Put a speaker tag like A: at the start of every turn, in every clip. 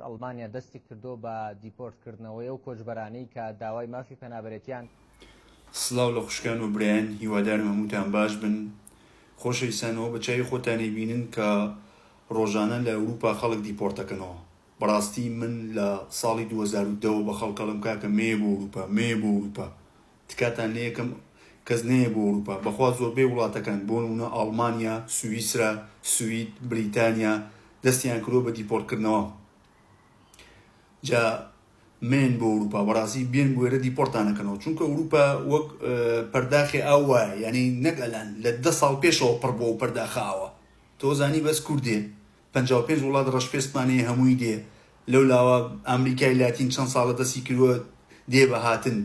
A: ئەڵمانیا دەستی کردووە بە دیپۆرت کردنەوەی ئەو کۆچبەرانەی کە داوای مافی پەنابەرێتیان سڵاو
B: لە خوشکان و برایان هیوادارم هەمووتان باش بن خۆشەویستان ئەوە بە چاوی خۆتان ئەیبینن کە ڕۆژانە لە ئەوروپا خەڵک دیپۆرت ئەکەنەوە بەڕاستی من لە ساڵی دوو هەزار و دە وە بە خەڵک ئەڵێم کاکە مەیە بۆ ئەوروپا مەیە بۆ ئەوروپا تکاتان لە یەکەم کەس نەیە بۆ ئەوروپا بەخوا زۆربەی وڵاتەکان بۆ نمونە ئاڵمانیا سویسرا سوید بریتانیا دەستیان کردوە بە دیپۆرت کردنەوە جا مەیەن بۆ ئەوروپا بەڕاستی بێن بوێرە دیپۆرتان نەکەنەوە چونکە ئەوروپا وەک پەرداخی ئاو وایە یعنی نەک ئەلان لە دە ساڵ پێشەوە پڕ بۆ پەرداخە ئاوە تۆ زانی بەس کوردێ پەنجا و پێنج وڵات ڕەشپێستمان هەیە هەمووی دێ لەو لاوە ئامریکای لاتین چەند ساڵە دەستی کرووە دێ بە هاتن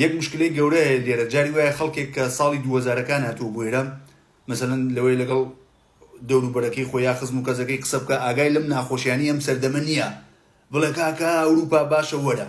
B: یەک مشکلەی گەورە هەیە لێرە جاری وایە خەڵکێک کە ساڵی دوو هەزارەکان هاتووە بۆێرە مەسەلەن لەوەی لەگەڵ دەوروبەرەکەی خۆ یا خزم و کەزەکەی قسە بکە ئاگای لەم ناخۆشیانی ئەم سەردەمە نییە بڵێ کاکە ئەوروپا باشە وەرە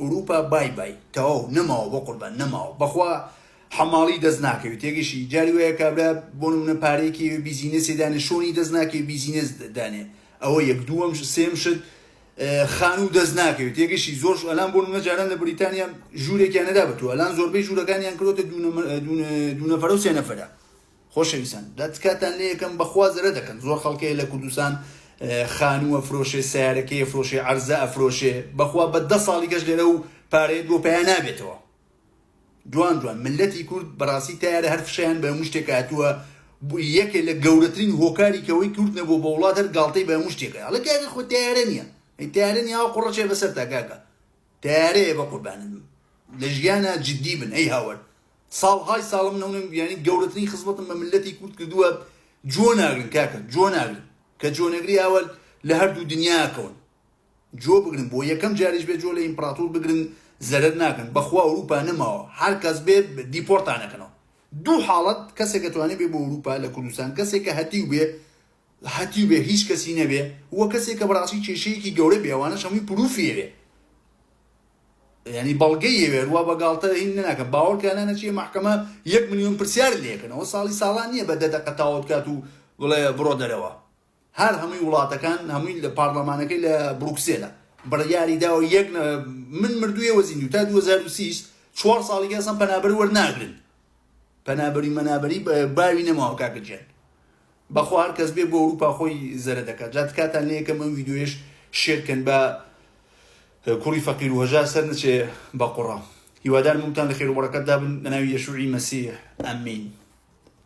B: ئوروپا بای بای تەواو نەماوە بەقوربان نەماوە بەخوا حەماڵی دەست ناکەوی تێگەشی جاری وایە کابرا بۆ نمونە پارەیەکی بیزینەسێ دانێ شۆنی دەست ناکەی بیزینەس دانێ ئەوە یەک دووەم سێم شت خانوو دەست ناکەوێت تێگەشی زۆر ئەلان بۆ نمە جاران لە بریتانیا ژوورێکیان نەدا بە تۆ ئەلان زۆربەی ژوورەکانیان کرۆتە دوونەفرە و سێنەفرە خۆشەویستان دا تکاتان لێ ئەکەم بەخوا زەرەد ئەکەن زۆر خەڵکەیە لە کوردستان خانوو ئەفرۆشێ سەیارەکەی ئەفرۆشێ عەرزە ئەفرۆشێ بەخوا بە دە ساڵی گەشت لێرە و پارەیەت بۆ پەیا نابێتەوە جوان جوان ملەتی کورد بەڕاستی تارە هەر فشەیان بە هەموو شتێک هاتووە یەکێ لە گەورەترین هۆکاری کەوەی کورد نەبوو بە وڵات هەر گاڵتەی بە هەموو شتێکە ئەڵێ کاکە خۆ تارە نییە ئەی تارە نییە ئەو قوڕەچێ بەسەر تا کاکە تارەیە بە قوربانن لە ژیانە جددی بن ئەی هاوەر ساڵهای ساڵە من ئەونم بیانی گەورەترین خزمەتم بە ملەتی کورد کردووە جۆ ناگرن کاکە جۆ ناگرن کە جۆ نەگری ئاوە لە هەردوو دنیاکەون جۆ بگرن بۆ یەکەم جاریش بێ جۆ لە ئیمپراتور بگرن زەرەر ناکەن بەخوا ئەوروپا نەماوە هەر کەس بێ دیپۆرتانەکەنەوە دوو حاڵەت کەسێکە توانێ بێ بۆ ئەوروپا لە کوردستان کەسێکە هەتیو بێ هەتیو بێ هیچ کەسی نەبێ وە کەسێکە بەڕاستی کێشەیەکی گەورە بێوانە شەمی پروفیێ یانی بەڵگەی یەوێ ڕوا بە گاڵتە هین نەناکە باوەڕکە نانە چیە مەحکەمە یەک ملیۆن پرسیار لێکەنەوە ساڵی ساڵان نییە بە دە دەقە تاوت کات و بڵێ بڕۆ دەرەوە هەر هەمووی وڵاتەکان هەمووی لە پارلەمانەکەی لە بروکسێلە بڕیاری داوە یەک من مردوویە وەزین و تا 2030 چوار ساڵی گەسم پەنابەر وەرناگرن پەنابەری مەنابەری باوی نەماوە کاکە جێن بەخوا هەر کەس بێ بۆ ئەوروپا خۆی زەرە دەکات جا تکاتان لێ یەکەم ئەم ڤیدیۆیەش شێر کەن با کوڕی فەقیر و هەژار سەر نەچێ بە قوڕا هیوادارم هەمووتان لە خێر و بەڕەکەت دابن بە ناوی یەشوعی مەسیح ئەمین.